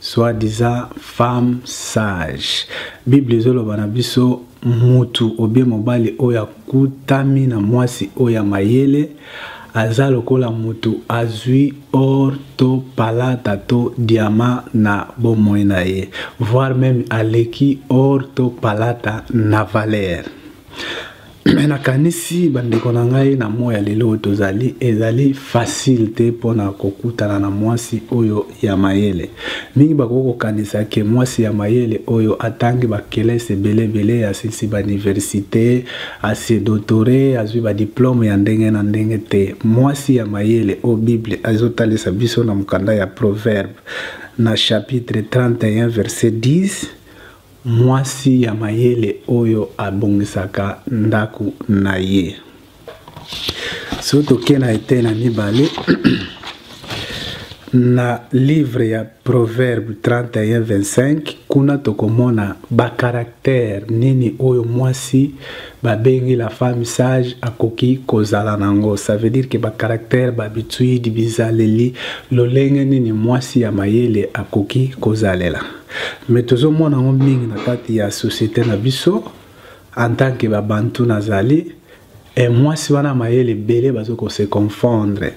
soit disant femme sage bible ezoloba na biso mutu obie mobali oyo akutami na mwasi oyo ya mayele aza lokola mutu azwi or to palata to diama na bomoi na ye voire meme aleki or to palata na valere me nakanisi bandeko na ngai na moi ya lelo oyo tozali ezali fasile te mpo na kokutana na mwasi oyo ya mayele mingi bakoki kokanisa ke mwasi ya mayele oyo atangi bakelese ebele ebele asilisi bauniversite asedotore azwi badiplome ya ndenge na ndenge te mwasi ya mayele oyo bible azotalisa biso na mokanda ya proverbe na chapitre 31 verset 10 Mwasi ya mayele oyo abongisaka ndako na ye. Soki tokei na etei na mibale na livre ya Proverbe 31:25 kuna tokomona bakaraktere nini oyo mwasi babengi la femme sage akoki kozala na yango ça veut dire ke bakaraktere babituide bizaleli lolenge nini mwasi ya mayele akoki kozalela mais tozomona yango mingi na kati ya société na biso en tant que babantu nazali e mwasi wana mayele ebele bazo kose confondre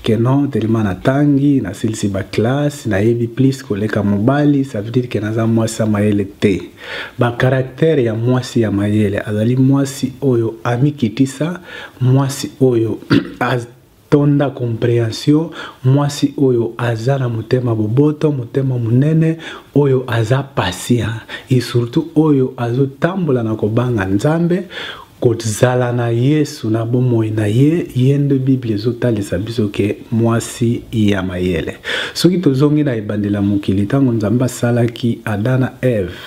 que non telema natangi nasilisi baklasse nayebi plus koleka mobali ça veut dire que naza mwasi ya mayele te bakaraktere ya mwasi ya mayele azali mwasi oyo amikitisa mwasi oyo tonda comprehension mwasi oyo aza na motema boboto motema monene oyo aza patient et surtout oyo azotambola na kobanga nzambe kozala na yesu na bomoi na ye ye nde biblia ezotalisa biso ke mwasi ya mayele soki tozongi na ebandela mokili ntango nzambe asalaki ada na eve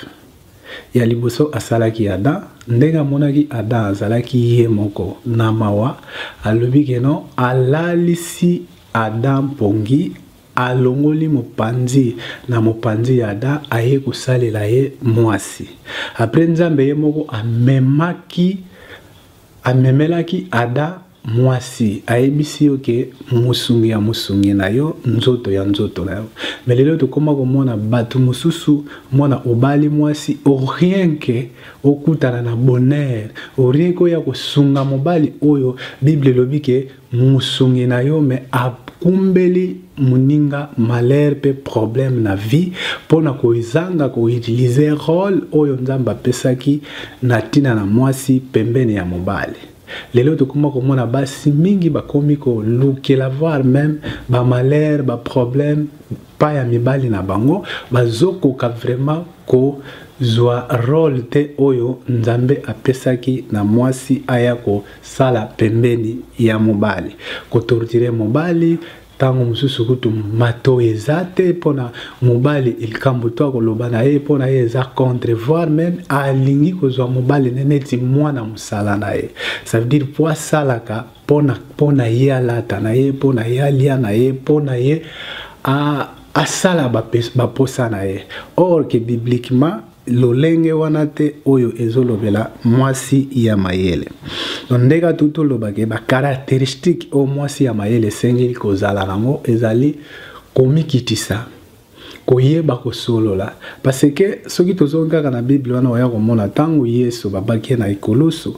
Ya liboso asalaki Adam, ndenge amonaki Adam azalaki ye moko na mawa, alobi ke non, alalisi Adam mpongi, alongoli mopanzi na mopanzi ya Adam, aye kosalela ye muasi. Après Nzambe ye moko amemaki, amemelaki Adam mwasi ayebisi yo ke mosungi ya mosungi na yo nzoto ya nzoto na yo me lelo tokoma komona bato mosusu mwana obali mwasi orien ke okutana na bonheur orien ke oya kosunga mobali oyo bible elobi ke mosungi na yo me akumbeli moninga malheur mpe problème na vie mpo na kozanga koutilize role oyo nzambe apesaki na ntina na mwasi pembeni ya mobali lelo tokoma komona basi mingi bakomi kolukela voir meme bamalheur baproblème pa ya mibali na bango bazokoka vraiment kozwa role te oyo nzambe apesaki na mwasi aya kosala pembeni ya mobali kotortire mobali ntango mosusu kutu matoi eza te mpona mobali likambo to akoloba na ye mpona ye eza contre voir meme alingi kozwa mobali ne neti mwana mosala na ye ça veut dire mpo asalaka mpona ye alata na ye mpona ye alia na ye mpona ye asala baposa na ye or ke bibliquement lolenge wana te oyo ezolobela mwasi ya mayele donc nde ka tutu olobake bacaracteristique oyo mwasi ya mayele esengeli kozala nango ezali komikitisa koyeba kosolola parce que soki tozongi kaka na bible wana oya komona ntango yesu babaki ye na ekulusu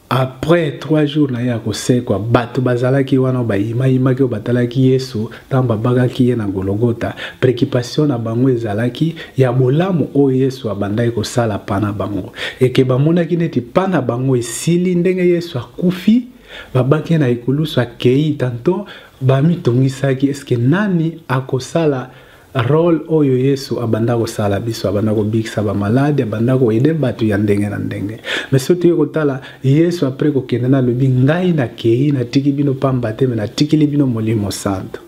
Après trois jours na ye ya kosekwa, bato bazalaki wana oyo bayimayimaki, oyo batalaki Yesu ntango babakaki ye na Gologota, preoccupation na bango ezalaki ya bolamu oyo Yesu abandaki kosala mpa na bango. Et que bamonaki neti mpa na bango esili ndenge Yesu akufi, babaki ye na ekulusu, akei, tanton bamitungisaki, est ce que nani akosala Role oyo Yesu abanda kosala biso, abanda kobikisa ba malade, abanda ko aider batu ya ndenge na ndenge. Mais soki toye kotala Yesu après kokende na lobi ngai na kei na tiki bino pamba te mais na tikili bino Molimo Santo.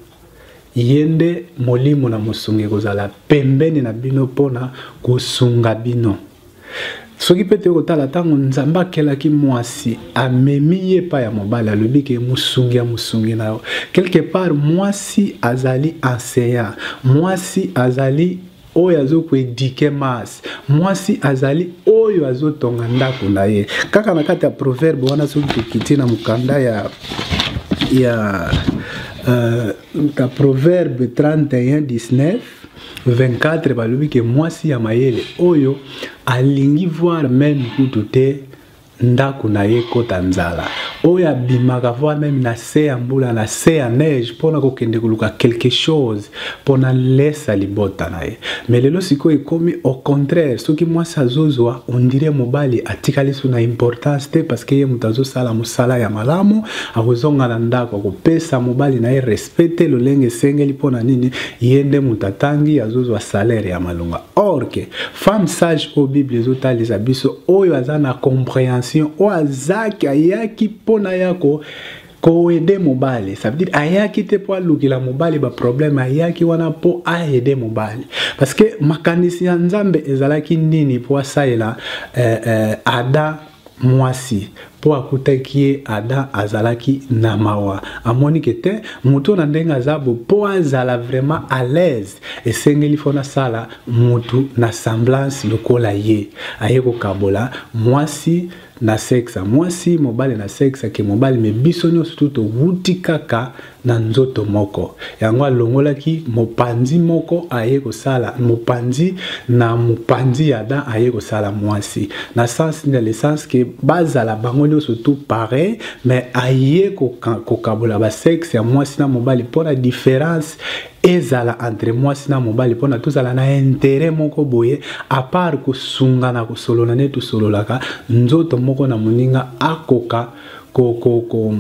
Yende Molimo na mosungi kozala pembeni na bino pona kosunga bino. soki mpe toyei kotala ntango nzambe akelaki mwasi amemi ye epai ya mobali alobi ke mosungi ya mosungi na yo quelque part mwasi azali enseignant mwasi azali oyo azokoedike mars mwasi azali oyo azotonga ndako na ye kaka na kati ya proverbe wana soki tokiti na mokanda ya ya uh, proverbe 31 19 24 balobi ke mwasi ya mayele oyo alingi voir meme kutu te ndako na ye ekota nzala oyo abimaka voir meme na se ya mbula na se ya neige mpo na kokende koluka quelque chose mpo na lesa libota na ye me lelo sikoyo ekomi au contraire soki mwasi azozwa ondire mobali atikali so na importance te parce que ye moto azosala mosala ya malamu akozonga na ndako akopesa mobali na ye respect mpe te lolenge esengeli mpo na nini ye nde moto atangi azozwa salaire ya malonga or ke femme sage oyo bible ezotalisa biso oyo aza na comprehension oyo azaki ayaki mpo na ya ko koede mobali ça veut dire ayaki te mpo alukela mobali baproblème ayaki wana mpo aede mobali parce que makanisi ya nzambe ezalaki nini mpo asalela eh, eh, ada mwasi mpo akutaki ye adam azalaki na mawa amoni ke te moto na ndenge aza bo mpo azala vraiment à l'aise esengeli fo nasala motu na semblance lokola ye aye kokabola mwasi na sexe mwasi mobali na sexe ke mobali me biso nyonso tu towuti kaka na nzoto moko yango alongolaki mopanzi moko aye kosala mopanzi na mopanzi ya dan aye kosala mwasi na sens na lesens ke bazala bango nyonso tout pareil mais aye kokabola basexe ya mwasi na mobali mpo na différence ezala entre mwasi na mobali mpona tozala na intere moko boye apart kosunga na kosolola nde tosololaka nzoto moko na moninga akoka kokoko ko, ko,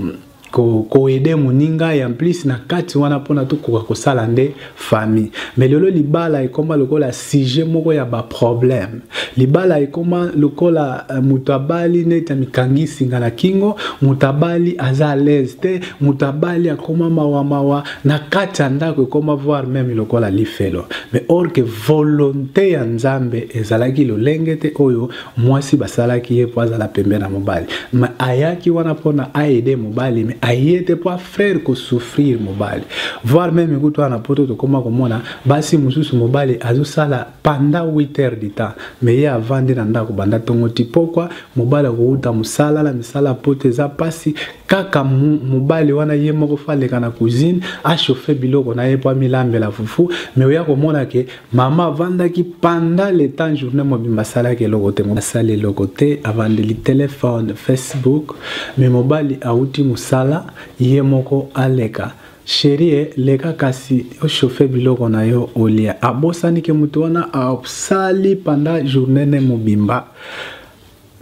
koede moninga ya plus na kati wana mpona tokoka kosala nde famille mais lelo libala ekoma lokola sujet moko ya baproblème libala ekoma lokola uh, moto abali neti amikangi singa na kingo moto abali aza alaise te moto abali akoma mawamawa na kati ya ndako ekoma voir meme lokola lifelo mais or que volonté ya nzambe ezalaki lolenge te oyo mwasi basalaki ye mpo azala pembe na mobali ma ayaki wana mpona aide mobali me aye te mpo afrere kosouffrir mobali voir meme kutu wana poto tokoma komona basi mosusu mobali azosala panda 8 heures du temps me ye avandi na ndako banda ntongo ti pokwa mobali akouta mosala na misala poto eza mpasi kaka mobali wana ye moko fo aleka na cuisine achauffe biloko na ye mpo amilambela fufu me oya komona ke mama avandaki panda leta journée mobimba asalaki eloko te asali eloko te avandeli telefone facebook me mobali auti mosala ye moko aleka sherie leka kasi ochauffe biloko na yo olia abosani ke moto wana asali panda journée ne mobimba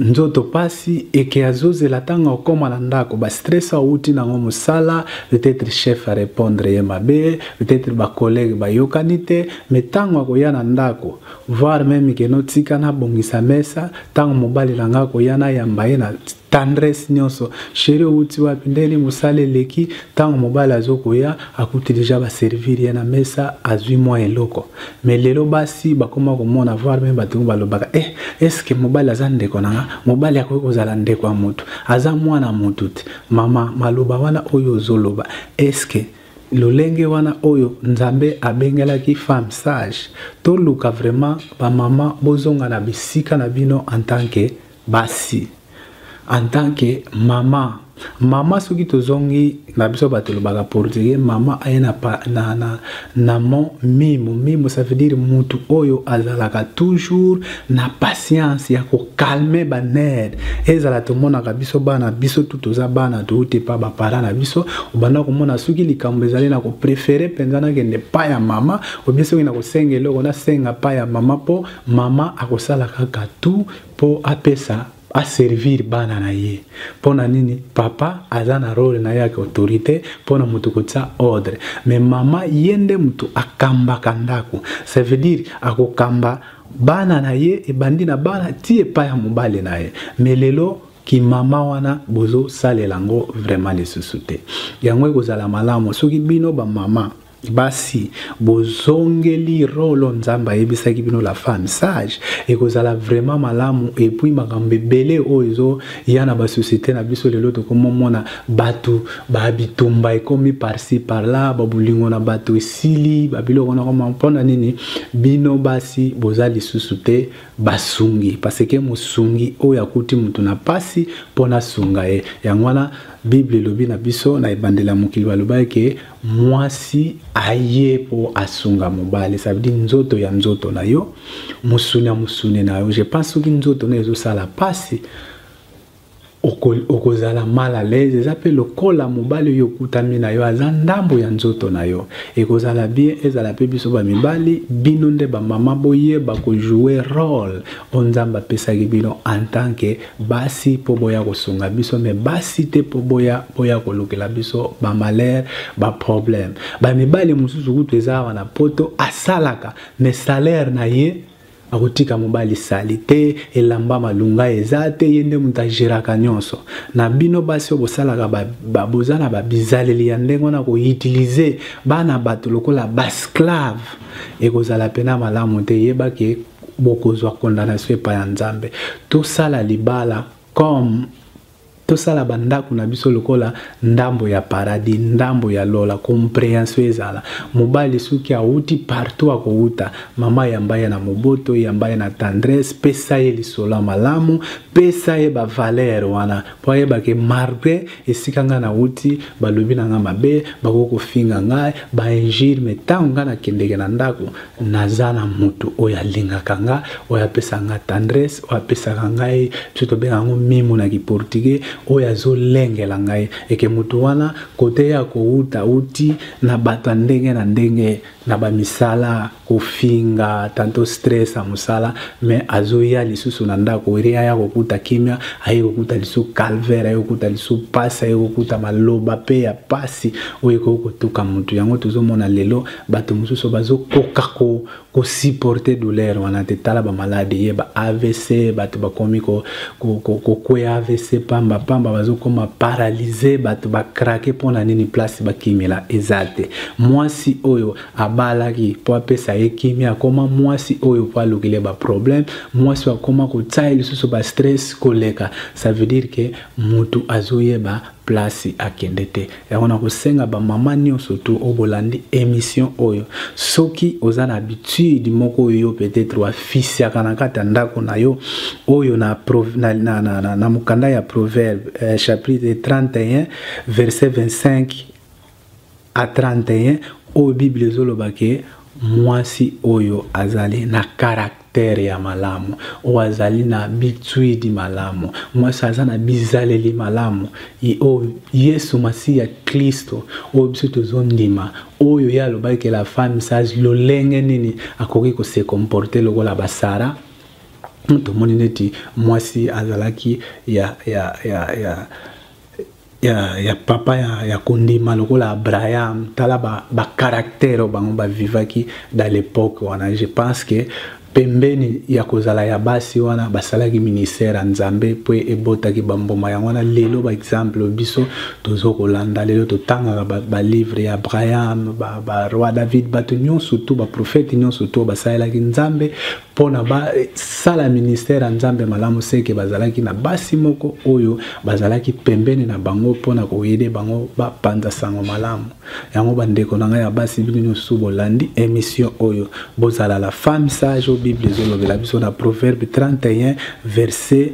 nzoto pasi eke azozela ntango akoma na ndako ba stress awuti nango mosala peut-être chef a répondre ye mabe peut-être ba collègue bayokani te mais ntango akoya na ndako voir meme ke notika nabongisa mesa ntango mobali na ngai akoya nayamba ye na tendresse nyonso sheri owuti wapi ndeni mosala eleki ntango mobali azokoya akuti deja baservir ye na mesa azwi mwa eloko mais lelo basi bakoma komona voir meme bato yango balobaka e eh, eske mobali aza ndeko na nga mobali akoki kozala ndeko ya motu aza mwana motu te mama maloba wana oyo ozoloba eske lolenge wana oyo nzambe abengelaki femme sage toluka vraiment bamama bozonga na bisika na bino en tant que basi en tant que mama mama soki tozongi na biso bato elobaka portugais mama aye na, na, na, na mo mimo mimo ça veut dire mutu oyo azalaka toujours na patience ya kokalme banere ezala tomonaka biso bana biso tu toza bana touti pa bapara na biso obanda komona soki likambo ezali na koprefere mpenza nakende pa ya mama obie soki na kosenga eloko nasenga pa ya mama mpo mama akosala kaka tu po apesa aservir bana na ye mpo na nini papa aza na role na ye ya autorité mpo na moto kotia ordre me mama ye nde moto akambaka ndako ça veut dire akokamba bana na ye ebandi na bana ti epai ya mobali na ye me lelo kimama wana bozosalela yango vraiment lisusu te yango ekozala malamu soki bino bamama basi bozongeli rolo nzambe ayebisaki bino la femme sage ekozala vraiment malamu epuis makambo ebele oyo ezoya na basosiete na biso lelo tokomomona bato babitumba ekomi parci parla babolingo na bato esili babiloko nakoma mpona nini bino basi boza lisusu te basungi parceke mosungi oyo akuti moto na mpasi mpo nasunga ye yango wana bible elobi na biso na ebandela mokili balobaki ke mwasi aye mpo asunga mobali ça veut dire nzoto ya nzoto na yo mosuni ya mosuni na yo je pense soki nzoto na ezosala mpasi okozala mal à l'aise eza mpe lokola mobali oyo okutami na yo aza ndambo ya nzoto na yo ekozala bien ezala mpe biso bamibali bino nde bamama boyeba kojoue role oyo nzambe apesaki bino en tant que basi mpo boya kosunga biso me basi te mpo boya boya kolukela biso bamalere baproblème bamibali mosusu kutu eza awa na poto asalaka me salaire na ye akotika mobali sali te elamba malunga eza te ye nde moto ageraka nyonso na bino basi oyo bosalaka boza na babizaleli ya ndenge wana koutilize bana bato lokola basclave ekozala mpena malamu te yebake bokozwa condamnation epai ya nzambe tosala libala comme tosala bandako na biso lokola ndambo ya paradis ndambo ya lola comprehension ezala mobali soki awuti partout akowuta mama yamba ye na moboto yamba ye na tendresse pesa ye lisolo ya malamu pesa ye bavalere wana mpo ayebake malgre esika ngai nauti balobi na ngai mabe bakoki kofinga ngai bainjure me ntango ngai nakendeke na ndako naza na motu oyo alingaka ngai oyo apesa ngai tendresse oyo apesaka ngai biso tobenga yango mimu na kiportugais oyo azolengela ngai eke motu wana kote ya kouta uti na bato ya ndenge na ndenge na bamisala kofinga tanto stress ya mosala me azoya lisusu na ndako ere aya kokuta kimia aye kokuta lisu calvaire aye kokuta lisu mpasi aye kokuta maloba mpe ya mpasi oyo ekoki kotuka motu yango tozomona lelo bato mosusu bazokoka ko, kosupporte douleur wana te tala bamaladi ye ba avc bato bakomi kokweya avc pamba pamba bazokoma paralyse bato bakrake mpo na nini place bakimela eza te mwasi oyo abalaki mpo apesa ye kimia akoma mwasi oyo mpo alukeli ye baproblème mwasi oyo akoma kotya ye lisusu bastress koleka ça veut dire ke motu azoyeba place akende te yango na kosenga bamama nyonso tu oyo bolandi émission oyo soki oza na habitude moko oyo yo peut-être wafisiaka na kati ya ndako na yo oyo na, na, na, na, na, na mokanda ya proverbe eh, chapitre 31 verset 25 a 31 oyo bible ezoloba ke mwasi oyo azali na karaktere ya malamu oyo azali na bitwidi malamu mwasi aza na bizaleli malamu oyo yesu masiya klisto oyo biso tozondima oyo ye alobaki ke la femme sage lolenge nini akoki kose comporte lokola basara tomoni neti mwasi azalaki ya, ya, ya, ya ya, ya papa ya, ya kondima lokola abraham tala bacaractère ba oyo bango bavivaki dans l'époque wana je pense que pembeni ya kozala ya basi wana basalaki ministère ya nzambe mpo ebotaki bambuma yango wana lelo baexemple biso tozo kolanda lelo totangaka balivre ba ya abraham baroi ba david bato nyonso tu baprofete nyonso tu basalelaki nzambe mpo na basala eh, ministère ya nzambe malamu seke bazalaki na basi moko oyo bazalaki pembeni na bango mpo na koyede bango bapanza sango malamu yango bandeko na ngai ya basi bino nyonso bolandi émission oyo bozala la femme sage oyo bible ezolobela biso na proverbe 31 verset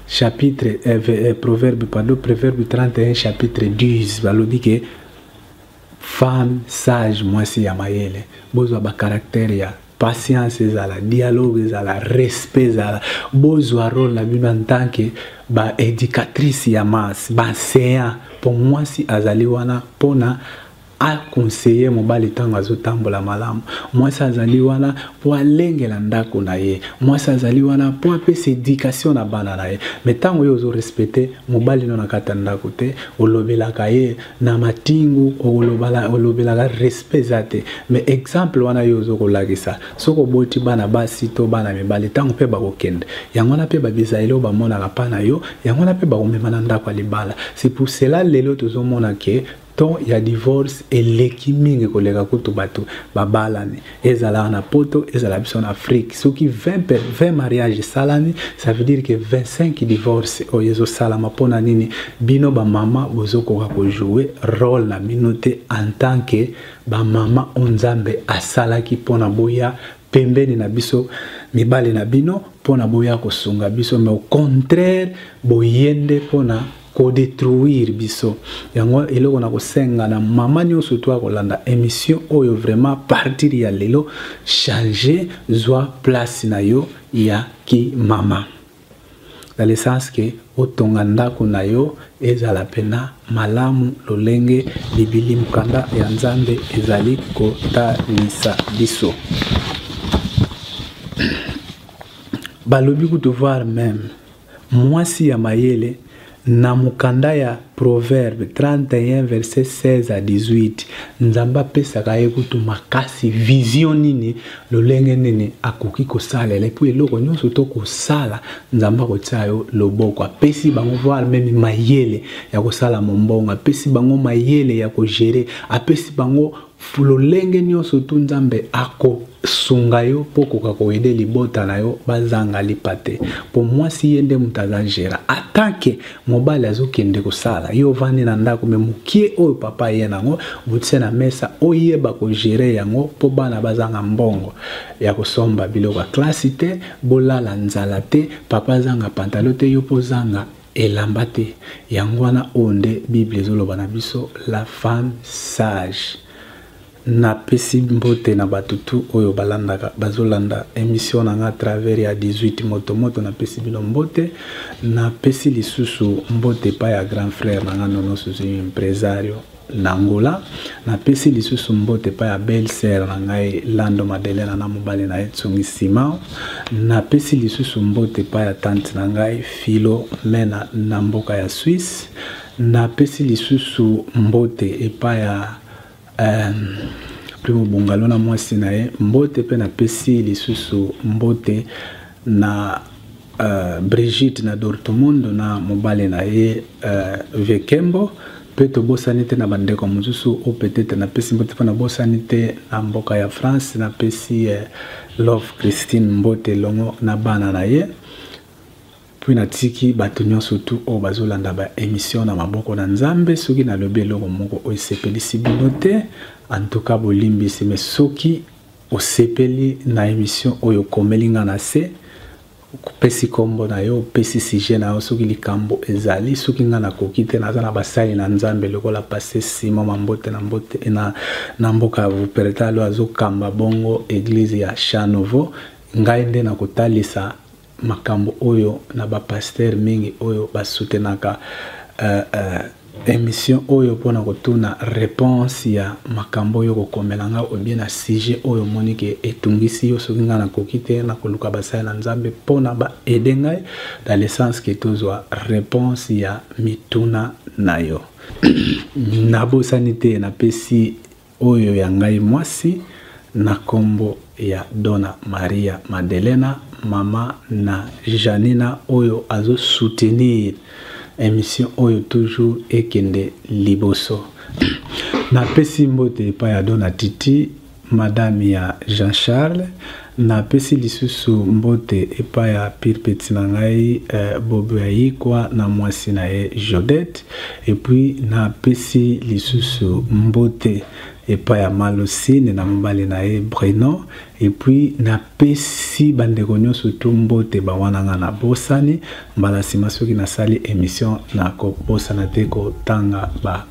chapitre eh, eh, proverbe pardon proverbe 31 chapitre 10 balobi ke femme sage mwasi ya mayele bozwa bacaractère ya patience ezala dialogue ezala respect ezala bozwa role na bino en tant que baédicatrice ya masse baenseignant mpo mwasi azali wana mpona aconseille mobali ntango azotambola malamu mwasi azali wana mpo alengela ndako na ye mwasi azali wana mpo apesa éducation na bana na ye me ntango yo ozorespecte mobali no na kati ya ndako te olobelaka ye na matingu olobelaka respect eza te mais exemple wana yo ozo kolakisa soki oboti bana basi to bana mibali ntango mpe bakokende yango wana mpe babisaele oyo bamonaka mpa na yo yango wana mpe bakomema na ndako ya libala c'est pour cela lelo tozomona ke temps ya divorce eleki mingi koleka kutu bato babalani ezala na poto ezala biso na afrique soki 20, 20 mariage esalami ça veut dire que 25 divorce oyo ezosalama mpona nini bino bamama bozokoka kojoue role na bino te en tant que bamama oyo nzambe asalaki mpona boya pembeni na biso mibali na bino mpona boya kosunga biso mais au contraire boye nde mpona kodetruire biso yango eloko na kosenga na mama nyonso to akolanda émission oyo vraiment partir ya lelo change zwa place na yo ya kimama na lesence ke otonga ndako na yo ezala mpena malamu lolenge libili mokanda ya nzambe ezali kotalisa biso balobi kutu voir meme Mwasi ya mayele, Na mokanda ya Proverbe 31 verset 16 à 18, Nzambe apesaka ye kutu makasi vision nini, lolenge nini akoki kosalela epuis eloko nyonso to kosala Nzambe akotia yo loboko. Apesi bango voire meme mayele ya kosala mombongo, apesi bango mayele ya kogere, apesi bango lolenge nyonso tu nzambe akosunga yo mpo okoka koyede libota na yo bazanga lipa te mpo mwasi ye nde moto aza gera atanke mobali azokende kosala yo ovandi na ndako me mokie oyo papa ye nango botise na mesa oyeba kogere yango mpo bana bazanga mbongo ya kosomba biloko ya klasi te bolala nzala te papa azanga pantalo te yo mpo ozanga elamba te yango wana oyo nde bible ezoloba na biso la femme sage napesi mbote na bato tu oyo balandaka bazolanda emission na nga travers ya 18 moto moto napesi bino mbote napesi lisusu mbote epai ya grand frère na nga nono suzuyu impresario na Angola. Napesi lisusu mbote epai ya belle sœur na ngai Lando Madelena na mobali na ye Tsungi Simao. Napesi lisusu mbote epai ya tante na ngai Philomena na mboka ya Suisse. Napesi lisusu mbote epai ya euh, Primo Bungalo na mwasi na ye mbote, mpe napesi lisusu mbote na uh, Brigitte na Dortmund na mobali na ye uh, Vekembo mpe tobosani te na bandeko mosusu oyo peut-être napesi mbote mpo nabosani te na mboka ya France napesi uh, Love Christine Mbote elongo na bana na ye mpe natiki bato nyonso tu oyo bazolanda baemission na maboko na nzambe soki nalobi eloko moko oyo esepelisi bino te antuka bolimbisi me soki Osepeli na emission oyo okomeli nga na se opesi kombo na yo opesi sujet na yo soki likambo ezali soki nga nakoki te naza na basali na nzambe lokola passe simo mambote na mbote eh, na, na mboka ya vupereta lo azokamba bongo eglise ya chan nouveau ngai nde nakotalisa makambo oyo na ba pasteur mingi oyo ba soutenaka euh, euh, émission oyo mpona kotuna réponse ya makambo oyo kokomela nga obie na sujet oyo omoni ke etungisi yo soki ngai nakoki te nakoluka basali na nzambe mpona baede ngai na lesence ke tozwa réponse ya mituna na yo nabosani te napesi Oyo ya ngai mwasi na kombo ya Dona Maria Madelena mama na Janina oyo azo soutenir emission oyo toujours ekende liboso na pesi mbote epai ya Dona Titi madame ya Jean Charles Na pesi lisusu mbote epa ya pire petit na ngai Bobo ya Yikwa na mwasi na ye Jodette et puis na pesi lisusu mbote epa ya Maloucine na mobali na ye Bruno et puis na pesi ba ndeko nionso tout mbote ba wana nga na bosani mbala sima soki na sali emission na ko bosana te ko tanga ba